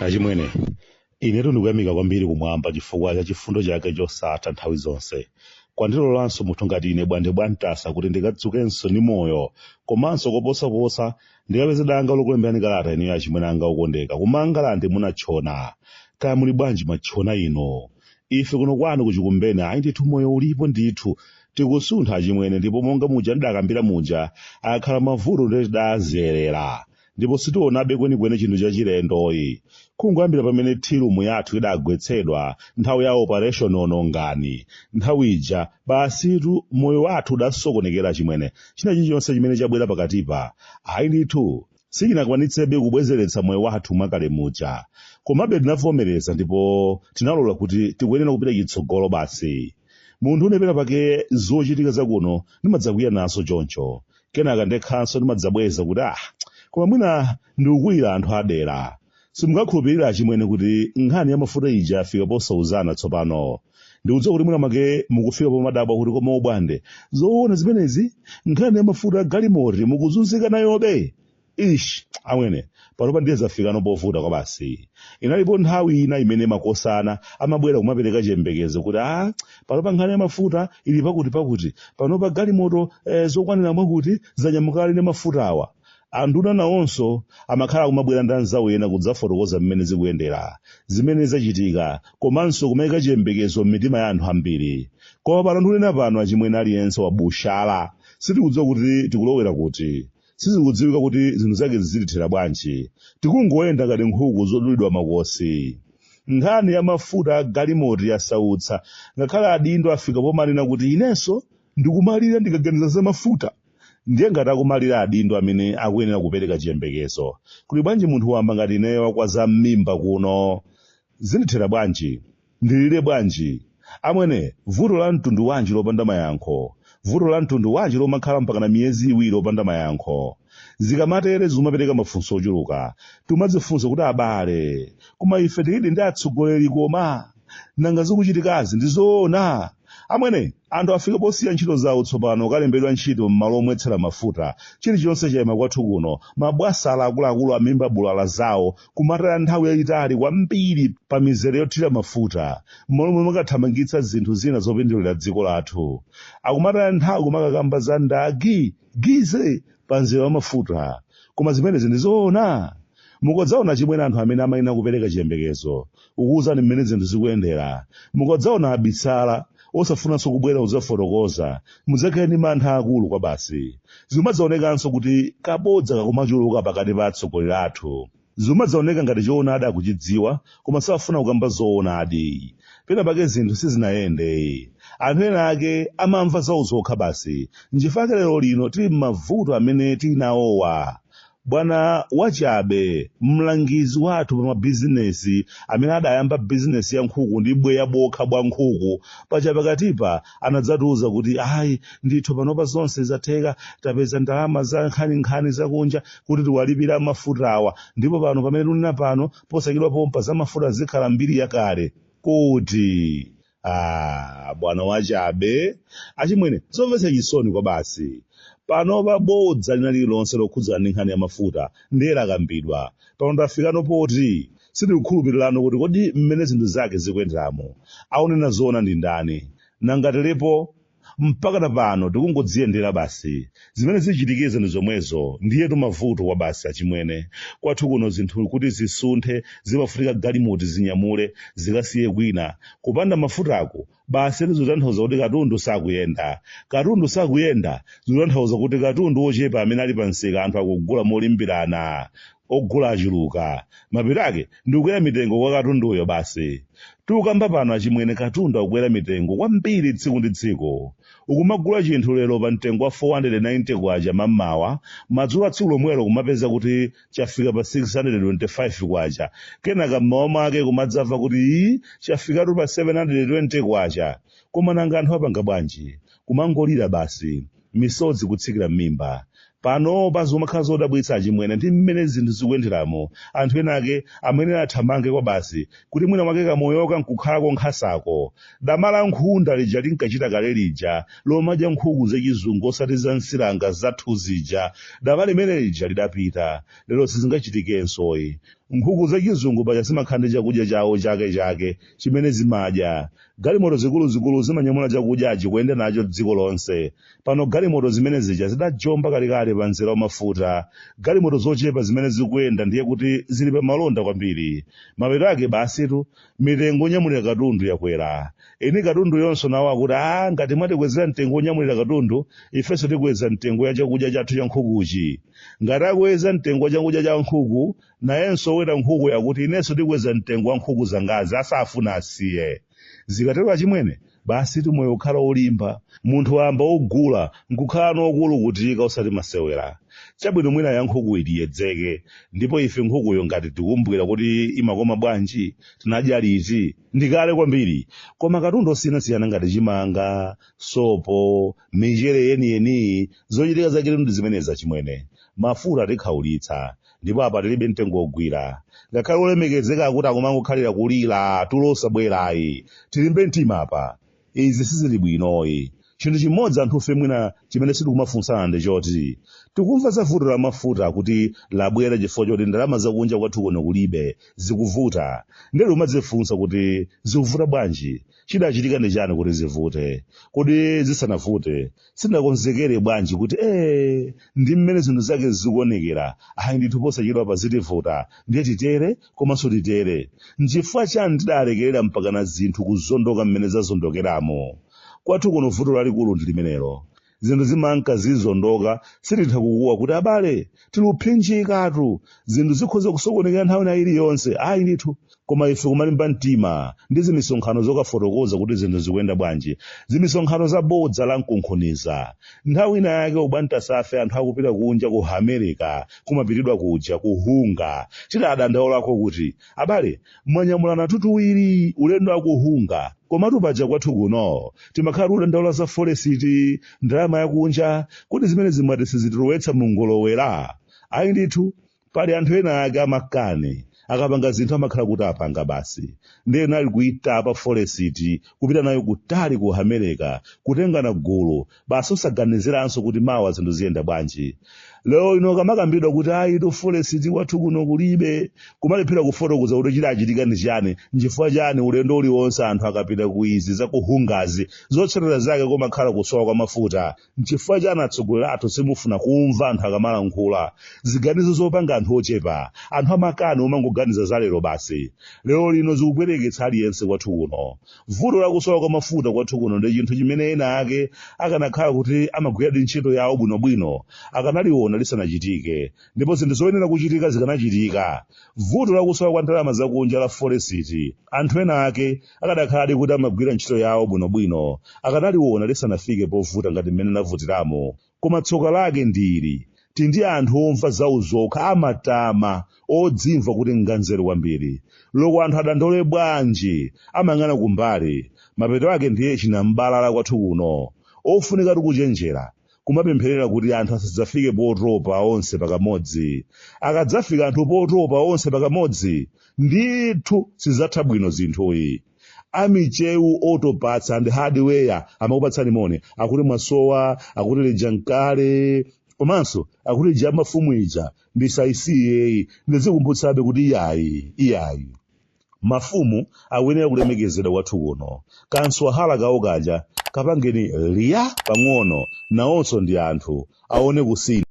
achimwene inetu ndikuyamika kwambiri kumwamba chifukwa cha chifundo chake chosatha nthawi zonse kwandilolanso munthu ngati ine bwande bwantasa kuti ndikadzukenso ndi moyo komanso koposaposa ndikapeze danga lokulemberani kalata inuyo achimwene anga okondeka ku mangalande munatchona kaya muli bwanji matchona inu ife kuno kwanu kuchikumbeni ayi ndithu moyo ulipo ndithu tikusuntha achimwene ndipo monga muja ndidakambira muja akhala mavuto ndiye tidazolowera ndipo sitionabe kwenikweni chinthu chachilendo ayi kungoyambira pamene tea room yathu idagwetsedwa nthawi ya operation onongani nthawi ija basitu moyo wathu udasokonekera achimwene china chilichonse chimene chabwera pakatipa ayi ndithu sichinakwanitsebe kubwezeretsa moyo wathu mwakale muja komabe tinavomereza ndipo tinalola kuti tikuyenera kupita chitsogolo basi munthune pena pake zochitika zakuno ndimadzakwiya nazo choncho kenaka ndekhanso ndimadzabweza kuti ah koma mwina ndikukwiyira anthu adera simungakhulupirira achimwene kuti nkhani ya mafuta ija yafika posauzana tsopano ndikudziwa kuti mwina mwake mukufika pomadabwa kuti koma obwande zoona zimenezi nkhani ya mafuta a galimoti mukuzunzika nayobe ish amwene panopa ndiye zafikano povuta kwabasi inalipo nthawi ina imene makosana amabwera kumapereka chiyembekezo kuti a panopa nkhani ya mafuta ili pakuti pakuti panopa galimoto eh, zokwanira mwakuti zanyamuka ali ndi mafuta awa Anduna nawonso amakhala akumabwera ndi anzawo ena kudzafotokoza mmene zikuyendera, zimene zachitika, komanso kumaika chiyembekezo m'mitima ya anthu ambiri. Koma pano ndikunena pano achimwene aliyense wabushala. Sitikudziwa kuti tikulowera kuti. Sizikudziwika kuti zinthu zake zizitithera bwanji. Tikungoyenda ngati nkhuku zodulidwa makosi. Nkhani ya mafuta a galimoti yasautsa ngakhale adindo afika pomanena kuti inenso ndikumalira ndikaganiza za mafuta. ndiye ngati akumalira adindo amene akuyenera kupereka chiyembekezo kuli bwanji munthu wamba ngati ineyo wa kwa zam'mimba kuno zindithera bwanji ndilire bwanji amwene vuto la mtundu wanji lopanda mayankho vuto la mtundu wanji lomakhala mpakana miyezi iwiri lopanda mayankho zikamatere zimapereka mafunso ochuluka timadzifunsa kuti abale koma ife tilidi ndi atsogoleri koma Nanga zikuchitikazi ndi zoona? Amwene, anthu afika posiya ntchito zawo tsopano kalembedwa ntchito m'malo omwetsera mafuta. Chilichonse chaima kwathu kuno. Mabwasala akuluakulu amimba bulala zawo kumataya nthawi yayitali kwambiri pa mizere yothira mafuta m'malo mwomakathamangitsa zinthu zina zopindulira dziko lathu. Akumataya nthawi kumakakamba za ndagi, gize, pa mzere wa mafuta. Koma zimenezi ndi zoona? Mukodzaona chimwene anthu amene amayenera kupereka chiyembekezo, kukuuzani mmene zinthu zikuyendera, mukodzaona abitsala, osafunanso kubwera kudzafotokoza, mudzakhale ndi mantha aakulu kwabasi. Zimadzaonekanso kuti kabodza kakumachuluka pakati pa atsogoleri athu. Zimadzaoneka ngati choonadi akuchidziwa, koma safuna kukamba zoonadi. Pena pake zinthu sizinayende. Anthu ena ake amamva zawo zokha basi. Nchifukwa chake lerolino tili m'mavuto amene tili nawowa. Bwana Wachabe, mlangizi wathu pa mabizinesi amene adayamba bizinesi ya nkhuku ndi bweya bokha bwa nkhuku, pachapakatipa anadzatiuza kuti ayi ndithu panopa zonse zatheka, tapeza ndalama za nkhaninkhani zakunja kuti tiwalipire amafutawa ndipo pano pamene tikunena pano posachedwa pompa za mafuta zikhala mbiri yakale. Kuti. Ah, bwana wachabe achimwene zomvetsa chisoni kwa basi panopa bodza lina lililonse lokhudzana ndi nkhani ya mafuta ndiye lakambidwa pano tafikano poti sitikukhulupirirano kuti kodi mmene zinthu zake zikuyenderamo aunena zoona ndi ndani nangatelepo mpakana pano tikungodziyendera basi zimene zichitikezo ndi zomwezo ndiyetu mavuto kwa basi achimwene kwathu kuno zinthu kuti zisunthe zimafunika galimoto zinyamule zikasiye kwina kupanda mafutako basi zitanthauza kuti katundu sakuyenda katundu sakuyenda zitanthauza kuti katundu wochepa amene ali pa msika anthu akugula molimbirana ogula achuluka mapeto ake ndikukwera mitengo kwa katunduyo basi tikukamba pano achimwene katundu akukwera mitengo kwambiri tsiku ndi tsiku ukumagula chinthu lero pa mtengo wa 490 kwacha mammawa madzulo a tsiku lomwelo kumapeza kuti chafika pa 625 kwacha kenaka mmawa mwake kumadzamva kuti ii chafikatu pa 720 kwacha koma nanga anthu apanga bwanji kumangolira basi misodzi kutsikira m'mimba panopa zikumakhala zodabwitsa achimwene ndi mmene zinthu zikuyenderamo anthu ena ake amene athamange kwa basi kuti mwina mwake kamoyoka nkukhalako nkhasako dama la nkhunda lija linkachita kale lija lomadya nkhuku zachizungu osati za nsiranga zathu zija dama limene lija lidapita lero sizingachitikensoyi nkhuku zachizungu paja zimakhala ndi chakudya chawo chake chake chimene zimadya Galimoto zikuluzikulu zimanyamula chakudyachi kuyenda nacho dziko lonse. Pano galimoto zimene zija zidajomba kalekale pa mzera wa mafuta. Galimoto zochepa zimene zikuyenda ndiye kuti zili pa malonda kwambiri. Mapeto ake basitu mitengo yonyamulira katundu yakwera. Eni katunduyonso nawo akuti aa ngati mwatikwezera mtengo wonyamulira katundu ifenso tikweza mtengo ya chakudya chathu cha nkhukuchi. Ngati akweza mtengo wa chakudya cha nkhuku nayenso oweta nkhuku akuti inenso ndikweza mtengo wa nkhuku zangazi asafuna asiye zikatero achimwene basitu moyo ukhala olimba munthu wamba ogula nkukhalano okulukutika osati masewera chabwino mwina ya nkhukuyi tiyedzeke ndipo ife nkhukuyo ngati tikumbukira kuti imakoma bwanji tinadya liti ndikale kwambiri koma katundu osiyanasiyana ngati chimanga sopo michere yeniyeniyi zochitika zake ndi zimenezi achimwene mafuta atikhaulitsa ndipo apa tilibe mtengo wogwira ngakhale olemekezeka akuti akumangokhalira kulira tulo osabwerayi tilimbe mtima apa izi sizili bwinoyi chinthu chimodzi anthufe mwina chimene sitikumafunsana ndi choti tikumva za vuto la mafuta kuti labwera chifukwa choti ndalama zakunja kwathu kuno kulibe zikuvuta ndili kumadzifunsa kuti zikuvuta bwanji chidachitika ndi chani kuti zivute kodi zisanavute sitinakonzekere bwanji kuti ee ndi mmene zinthu zake zikuonekera ayi ndithu posachedwapa zitivuta ndiye titere komanso titere nchifukwa chani tidalekerera mpakana zinthu kuzondoka mmene zazondokeramo kwathu kuno vuto lalikulu ndi limenelo zinthu zimanka zizondoka sititha kukuwa kuti abale tili kuphinjikatu zinthu zikhoza kusokonekera nthawi ina iliyonse ayi ndithu koma ife kumalimba mtima ndi zimisonkhano zokafotokoza kuti zinthu zikuyenda bwanji zimisonkhano za bodza la mkunkhuniza nthawi ina yake obwantasafe anthu akupita kunja ku america kumapitidwa kuja ku unga tidadandaulako kuti abale mwanyamulanatu tuwiri ulendo wa ku unga komatu paja kwathu kuno timakhala tikudandaula za forex ndalama yakunja kodi zimenezi mwati sizitilowetsa mu ngolowera ayi ndithu pali anthu ena ake amakani akapanga zinthu amakhala kuti apanga basi ndiye anali kuitapa forex kupita nayo kutali ku america kutengana gulu basi osaganiziranso kuti mawa zinthu ziyenda bwanji lero lino kamakambidwa kuti ayitu forex kwathu kuno kulibe kumalephera kufotokoza kuti chidachitika ndi chani nchifukwa chani ulendo uliwonse anthu akapita ku izi za ku ungazi zotsatira zake kumakhala kusowa kwa mafuta nchifukwa chani atsogoleri athu simufuna kumva anthu akamalankhula ziganizo zopanga anthu ochepa anthu amakani omangoganiza za lero basi lero lino zikupweteketsa aliyense kwathu kuno vuto la kusowa kwa mafuta kwathu kuno ndi chinthu chimene ena ake akanakhala kuti amagwiradi ntchito yawo bwinobwino akanaliona lisanachitike ndipo zinthu zoyenera kuchitika zikanachitika vuto la kusowa kwa ndalama zakunja la forex anthu ena ake akanakhaladi kuti amagwira ntchito yawo bwinobwino akanaliona lisanafike povuta ngati mmene lavutiramo Koma tsoka lake ndi ili, tili ndi anthu omva zawo zokha, amatama, odzimva kuti nganzeru kwambiri. Loko anthu adandaule bwanji, amayang'ana kumbali. Mapeto ake ndiye chinam'balala kwathu kuno. Ofunikatu kuchenjera, kumapempherera kuti anthu asadzafike potopa onse pakamodzi. Akadzafika anthu potopa onse pakamodzi, ndithu sizidzatha bwino zinthuyi. amichewu autoparts and hardware amakupatsani moni akuti mwasowa akuti lija n'kale komanso akuti ija ya mafumu ija ndisayisiyeyi ndizikumbutsabe kuti iyayi iyayi mafumu akuyenera kulemekezedwa kwathu kuno kanswahala kawo kaja kapangeni liya pang'ono nawonso ndi anthu aone kusintha